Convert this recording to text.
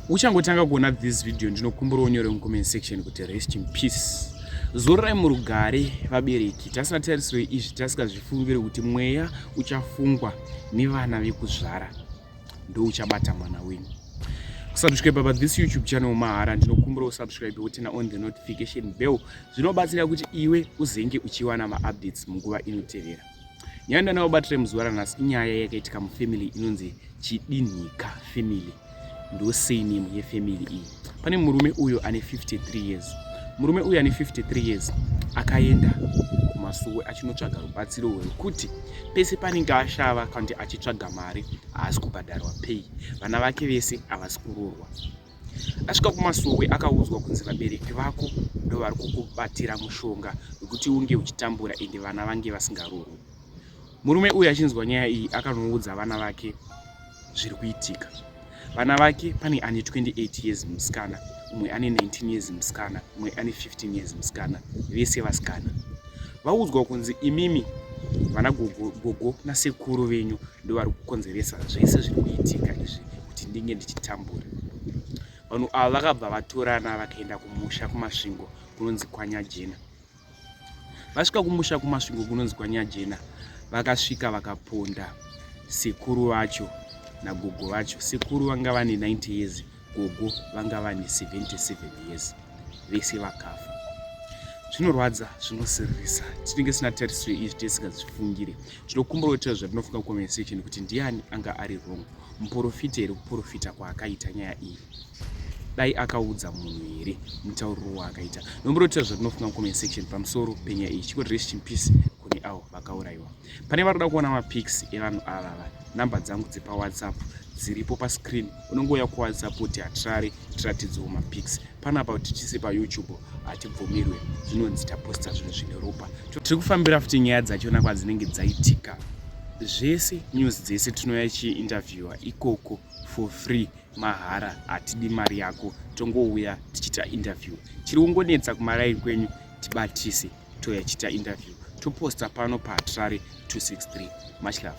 uchangotanga kuona this video ndinokumbira unyore mucomment section kuti rest in peace zororai murugare vabereki tasina tarisiro izvi tasikazvifungire kuti mweya uchafungwa nevana vekuzvara ndouchabata mwana wenyu kusubscribe pa this youtube channel mahara ndinokumbira usubscribe wotena on the notification bell zvinobatsira kuti iwe uzenge uchiwana maupdates munguva inotevera Nyanda nawo batire muzuva ranhasi inyaya yakaitika mufamily inonzi Chidinhika family. Ndo surname yefamily iyi. Pane murume uyo ane 53 years. Murume uyo ane 53 years akaenda kumasuwe achinotsvaga rubatsiro rwekuti pese panenge ashava kanti achitsvaga mari haasi kubhadharwa pay. Vana vake vese havasi kuroorwa. Asvika kumasowe akaudzwa kunzi vabereki vako ndovari kukubatira mushonga wekuti unge uchitambura ende vana vange vasingarorwi. Murume uyu achinzwa nyaya iyi akanoudza vana vake zviri kuitika. Vana vake pane ane 28 years musikana, umwe ane 19 years musikana, umwe ane 15 years musikana, vese vasikana. Vaudzwa kunzi imimi vana gogo, gogo nasekuru venyu ndovari kukonzeresa zvese zviri kuitika izvi kuti ndinge ndichitambura vanhu ava vakabva vatorana vakaenda kumusha kumasvingo kunonzi kwanyajena vasvika kumusha kumasvingo kunonzi kwanyajena vakasvika vakaponda sekuru vacho nagogo vacho sekuru vanga vane 90 years Gogo vanga vane 77 years vese vakafa. Zvinorwadza, zvinosiririsa. Tinenge sina tariso izvi tisingazvifungire. Tinokumbura kuti zvatinofunga conversation kuti ndiani anga ari wrong. Muporofita here kuporofita kwaakaita nyaya iyi? Dai akaudza munhu here mutauriro waakaita? Nombura kuti zvatinofunga comment section pamusoro penyaya iyi. Chikoti rest in peace kune avo vakaurayiwa. Pane vari kuda kuona mapics evanhu avava, number dzangu dzepa WhatsApp dziripo pa screen. unongouya kuwasapoti hatirari tiratidziwo mapics panapa kuti tise payoutube hatibvumirwe zvinonzi taposta zvinhu zvine ropa tiri kufambira futi nyaya dzachona kwadzinenge dzaitika zvese news dzese tinouya chiinterviewa ikoko for free mahara hatidi mari yako tongouya tichiita interview chiri kungonetsa kumaraini kwenyu tibatise touya chiita interview toposta pano pahatirari 263 much love